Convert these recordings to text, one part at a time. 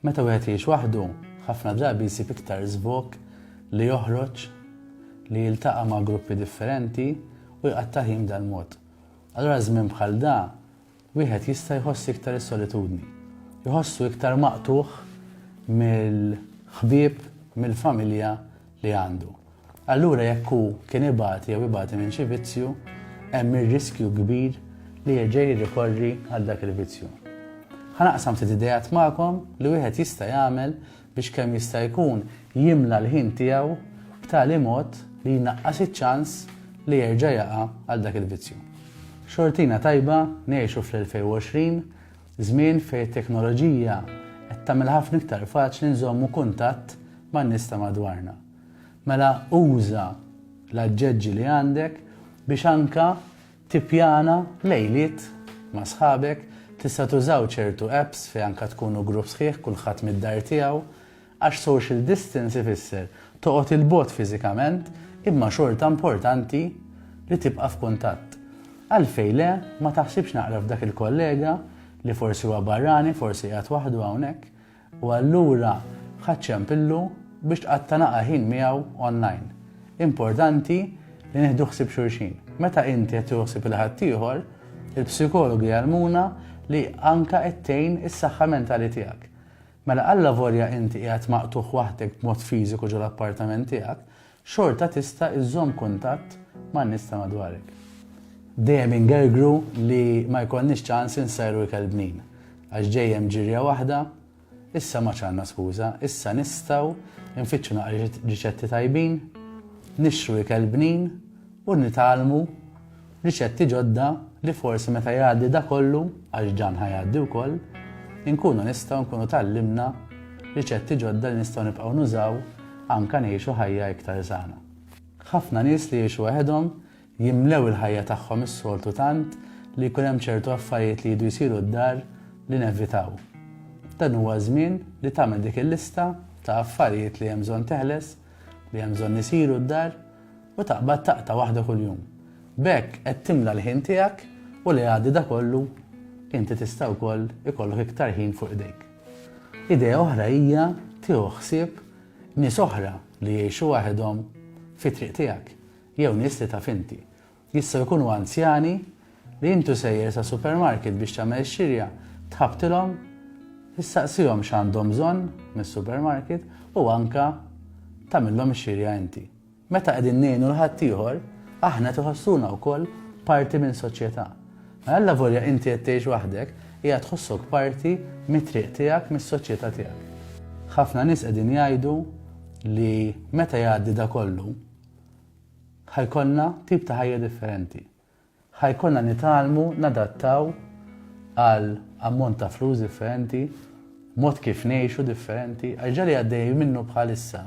Meta wieħed jgħix waħdu, ħafna drabi jsib iktar żvog li joħroġ li jiltaqa' ma' gruppi differenti u jqatta' ħin b'dan mod. Allura żmien bħal da, wieħed jista' jħoss iktar is-solitudni. Jħossu iktar maqtugħ mill-ħbieb, mill-familja li għandu. Allura jekk hu kien ibati jew ibati minn xi vizzju, hemm ir-riskju kbir li jerġa' jirrikorri għal dak il-vizzju. Ħa naqsam ftit ideat magħkom li wieħed jista' jagħmel biex kemm jista' jkun jimla l-ħin tiegħu b'tali mod li jnaqqas iċ-ċans li jerġa' jaqa' għal dak il-vizzju. Xortina tajba ngħixu fl-2020, żmien fejn it-teknoloġija qed tagħmilha ħafna iktar faċli nżommu kuntatt man-nies ta' madwarna. Mela uża l-aġġeġġi li għandek biex anke tippjana lejliet ma' sħabek, tista' tużaw ċertu apps fejn anke tkunu grupp sħiħ kulħadd mid-dar tiegħu għax social distance ifisser toqgħod 'il bogħod fiżikament imma xorta importanti li tibqa' f'kuntatt. Għalfejn le ma taħsibx naqra f'dak il-kollega li forsi huwa barrani, forsi qiegħed waħdu hawnhekk, U allura ħaċċem pillu biex tqatta' naqa' ħin miegħu online. Importanti li nieħdu ħsieb xulxin. Meta inti qed tieħu ħsieb il-ħaddieħor, il-psikologi jgħallmuna li anke qed tgħin is-saħħa mentali tiegħek. Mela allavolja inti qiegħed maqtugħ waħdek b'mod fiżiku ġol-appartament tiegħek, xorta tista' iżżomm kuntatt man-nies ta' madwarek. Dejjem ingergru li ma jkollniex ċans insajru ikel bnin, għax ġej hemm ġirja waħda, issa m'għadx għandna skuża, issa nistgħu nfittxu naqra riċetti tajbin, nixtru ikel bnin u nitgħallmu riċetti ġodda li forsi meta jgħaddi dak kollu, għax dan ħa jgħaddi wkoll, inkunu nistgħu nkunu tgħallimna riċetti ġodda li nistgħu nibqgħu nużaw anke ngħixu ħajja iktar sana. Ħafna nies li jgħixu waħedhom jimlew il-ħajja tagħhom is-soltu tant li jkun hemm ċertu affarijiet li jdu jsiru d-dar li nevitaw. Dan huwa żmien li tagħmel dik il-lista ta' affarijiet li hemm bżonn teħles li hemm bżonn isiru d-dar u taqbad taqta' waħda kuljum. B'hekk qed timla l-ħin tiegħek u li għaddi da kollu inti tista' wkoll ikollok iktar ħin fuq idejk. Idea oħra hija tieħu ħsieb nies oħra li jgħixu waħedhom fi triq tiegħek jew nies li taf inti Jistgħu jkunu anzjani li intu sejjer sa supermarket biex tagħmel xirja, tħabbtilhom, issaqsihom x'għandhom bżonn mis-supermarket u anke tagħmilhom ix-xirja inti. Meta qegħdin ngħinu l-ħaddieħor, aħna tiħossuna wkoll parti minn soċjetà. Mela alla volja inti qed tgħix waħdek, hija tħossok parti mit-triq tiegħek mis-soċjetà tiegħek. Ħafna nies qegħdin jgħidu li meta jgħaddi da kollu, Ħa jkollna tip ta' ħajja differenti. Ħa jkollna nitgħallmu nadattaw għal ammont ta' flus differenti, mod kif ngħixu differenti, għax ġali għaddej minnu bħalissa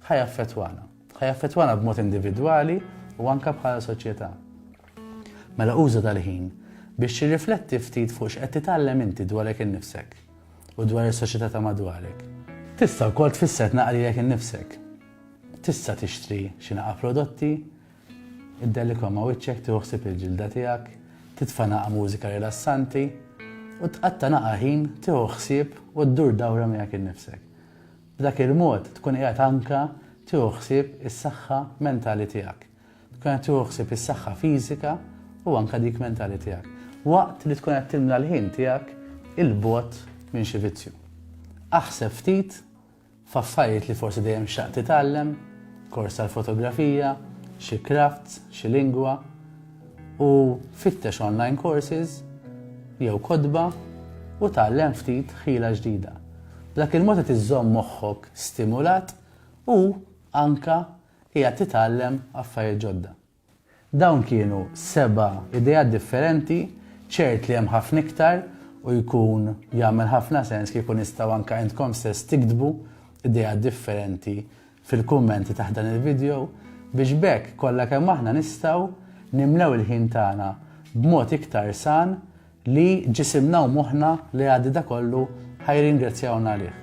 ħa jaffetwana. Ħa jaffetwana b'mod individwali u anka bħala soċjetà. Mela uża tal-ħin biex tirrifletti ftit fuq x'qed titgħallem inti dwarek innifsek u dwar is-soċjetà ta' madwarek. Tista' wkoll tfisser tnaqrilek innifsek. Tista' tixtri xi naqa' prodotti, iddelikhom ma' wiċċek, tieħu ħsieb il-ġilda tiegħek, titfa' naqa' mużika rilassanti, u tqatta' naqa' ħin tieħu ħsieb u ddur dawra miegħek innifsek. B'dak il-mod tkun qiegħed anke tieħu ħsieb is-saħħa mentali tiegħek. Tkun qed tieħu ħsieb is-saħħa fiżika u anke dik mentali tiegħek. Waqt li tkun qed timla l-ħin tiegħek 'il bogħod minn xi vizzju. Aħseb ftit F'affarijiet li forsi dejjem xtaqt titgħallem, kors tal-fotografija, xi crafts, xi lingwa, u fittex online courses jew kotba u tgħallem ftit ħila ġdida. B'dak il-mod qed iżżomm moħħok stimulat u anke qiegħed titgħallem affarijiet ġodda. Dawn kienu seba' ideat differenti, ċert li hemm ħafna iktar u jkun jagħmel ħafna sens kieku nistgħu anke intkom stess tiktbu ideat differenti fil-kummenti taħt dan il-vidjow biex b'hekk kollha kemm aħna nistgħu nimlew il-ħin tagħna b'mod iktar san li ġisimna u moħħna li jgħaddi da kollu ħa jirringrazzjawna għalih.